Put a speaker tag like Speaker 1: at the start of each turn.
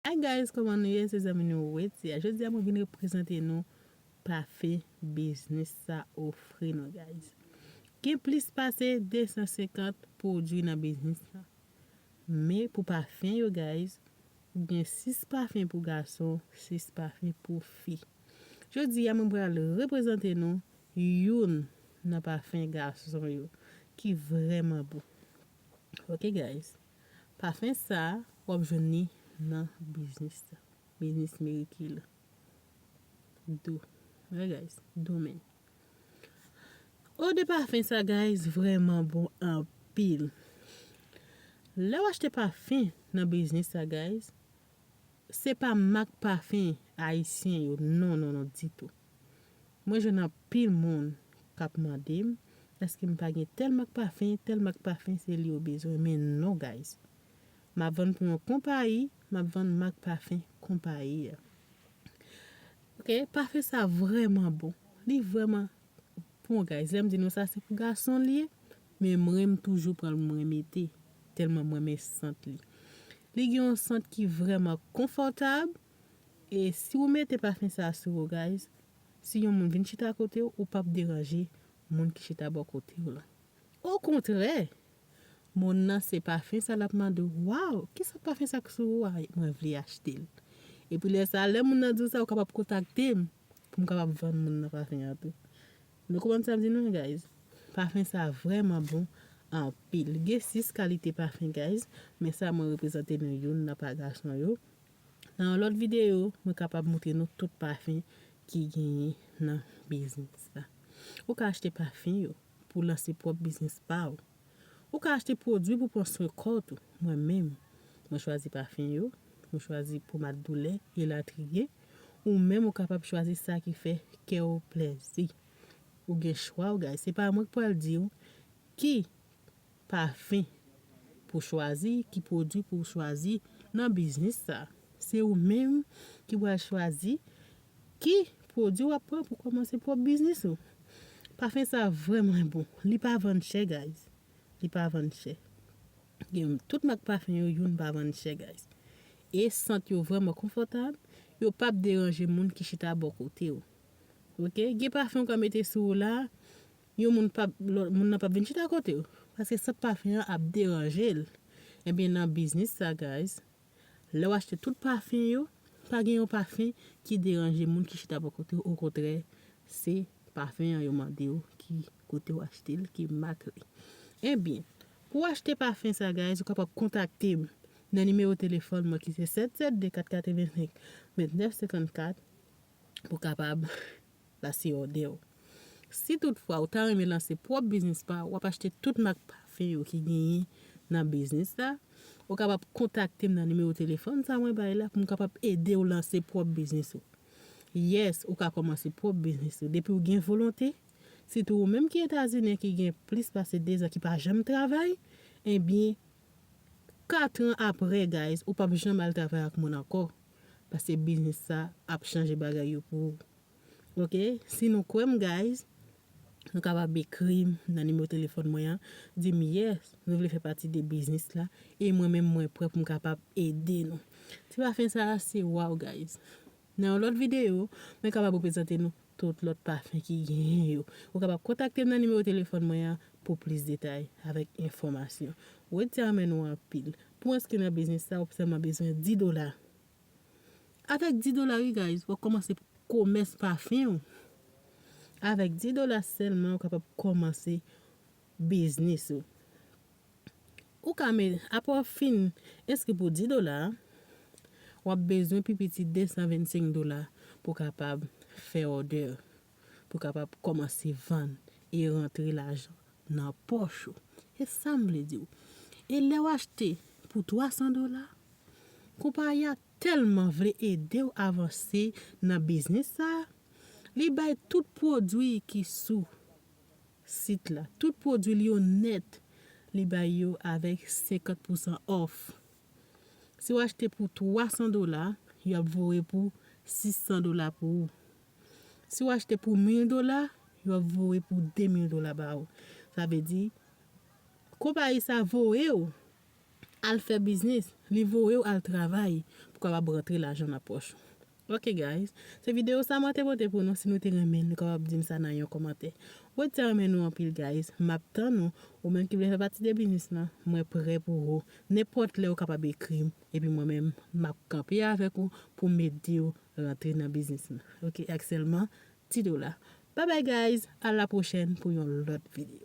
Speaker 1: Hi guys koman nou ye se zanmi nou Wetty a jodi a mwen vin reprezante nou pafe biznis sa ofri nou guys gen plis pase 250 pwodwi nan biznis sa men pou pafen yo guys gen 6 pafen pou gason 6 pafen pou fi jodi a mwen pral reprezante nou youn nan pafen gason yo ki vrèman bon ok guys pafen sa wap jwenn li nan biznis la biznis meriky la do ok guys do men eau de pafen sa guys vrèman bon anpil lèw achte pafen nan biznis sa guys Se pa mak pafin ayisyen yo non non non ditou. Mwen jwenn anpil moun kap mandem eske m pa gen tèl mak pafin, tèl mak pafin se li yo bezwen men non guys. Map vann pou yon konpayi, map vann mak pafin konpayi a. Ok, pafin sa vrèman bon. Li vrèman Bon guys lèm di nou sa se pou gason li ye men mren m toujou pran l mwen mete tèlman m renmen sant li li gen yon sant ki vrèman konfòtab e si ou mete pafen sa sou ou guys si yon moun vin chita akote w ou pap deranje moun ki chita bò kote w lan okontrè moun nan se pafen sa lap mande w waw kisa pafen sa k sou ou a mwen vle achte l epi lè sa lè moun nan di w sa ou kapab kontakte m. poum kapab vann moun nan pafen an tou. Nou konprann sam di nou an guys? Pafen sa vrèman bon anpil. Gen 6 kalite pafen guys, men sa mwen reprezante nou youn nan pa gason yo. Nan yon lòt videyo mwen kapab moutre nou tout pafen ki genyen nan biznis la. Ou ka achte pafen yo pou lanse pwòp biznis pa ou. Ou ka achte pwodwi pou pran swen kò tou. Mwen menm, mwen chwazi pafen yo, mwen chwazi pomad doulè, elatriye. Ou menm ou kapab chwazi sa ki fè kè ou plèzi. Ou gen chwa ou guys. Se pa mwen ki pral di ou ki pafen pou chwazi, ki pwodwi pou chwazi nan biznis sa. Se ou menm ki pral chwazi Ki pwodwi wap pran pou komanse pwop biznis ou? Pafen sa vreman bon. Li pa vann chè guys. Li pa vann chè. Gen tout mak pafen yo youn pa vann chè guys. E sant yo vreman konfotab. Yo pap deranje moun ki chita bo kote ou. Ok. Gen pafen ou ka mete sou ou la. Yon moun pap, moun nan pap vin chita kote ou. Paske sant pafen an ap deranje l. Ebyen nan biznis sa guys. Lè w achte tout pafin yo, pa gen yon pafin ki deranje moun ki chita bò kote w, okontrè se pafin an yo mande w ki kote w achte l, ki mak li. Ebyen, pou w achte pafin sa guys ou kapab kontakte m nan nimewo telefòn mwen ki se 772 485 29 54 pou w kapab la se òdè w. Si tout fwa ou ta renmen lanse pwòp biznis pa w, w ap achte tout mak pafen yo ki genyen nan biznis la, ou kapab kontakte m nan nimewo telefòn sa mwen bay la pou m kapab ede w lanse pwòp biznis ou. Yes, ou ka kòmanse pwòp biznis ou depi w gen volonte, sitou ou menm ki Etazinyen ki gen plis pase 2 zan ki pa janm travay, ebyen 4 an aprè guys ou pap janm al travay ak moun ankò, paske biznis sa ap chanje bagay yo pou ou. ok si nou kwèm guys nou kapab ekrim nan nimero telefòn mwen an dim yes nou vle fè pati de biznis la e mwen menm mwen prè poum kapab ede nou ti pafen sa se waw guys nan yon lòt video mwen kapab reprezante nou tout lòt pafen ki genyen yo ou kapab kontaktem nan nimero telefòn mwen an pou plis detay avèk enfòmasyon wed sa renmen nou anpil pou enskri nan biznis sa ou sèlman bezwen 10 dola. Avèk 10 dola wi guys wap kòmanse komès pafen ou. Avèk 10 dola sèlman ou kapab kòmanse biznis ou. Ou ka met apre wap fin enskri pou 10 dola a, wap bezwen pi piti 225 dola pou kapab fè òdè. pou kapab kòmanse vann e rantre lajan nan pòch ou. E sa m vle di w, e lè w achte pou 300 dola, konpayi a tèlman vle ede w avanse nan biznis sa, li bay tout pwodui ki sou sit la, tout pwodui l yo nèt, li bay yo avèk 50 pousan òf. Si w achte pou 300 dola, yo ap voye pou 600 dola pou ou. Si w achte pou 1000 dola, yo ap voye pou 2000 dola ba ou. Sa vle di, konpayi sa voye w al fè biznis, li voye w al travay pou w kapab rantre lajan nan pòch ou. Ok guys, se video sa mwen te pote pou nou, si nou te renmen nou kapab di m sa nan yon kòmantè. Mwen te renmen nou anpil guys, m ap tann ou, ou menm ki vle fè pati de biznis lan, mwen prè pou ou. Nenpòt lè ou kapab ekri m, epi mwen menm m ap kanpe avèk ou pou m ede w Rantre nan biznis m ok ak selman ti dola. Bye bye guys a la prochèn pou yon lot video.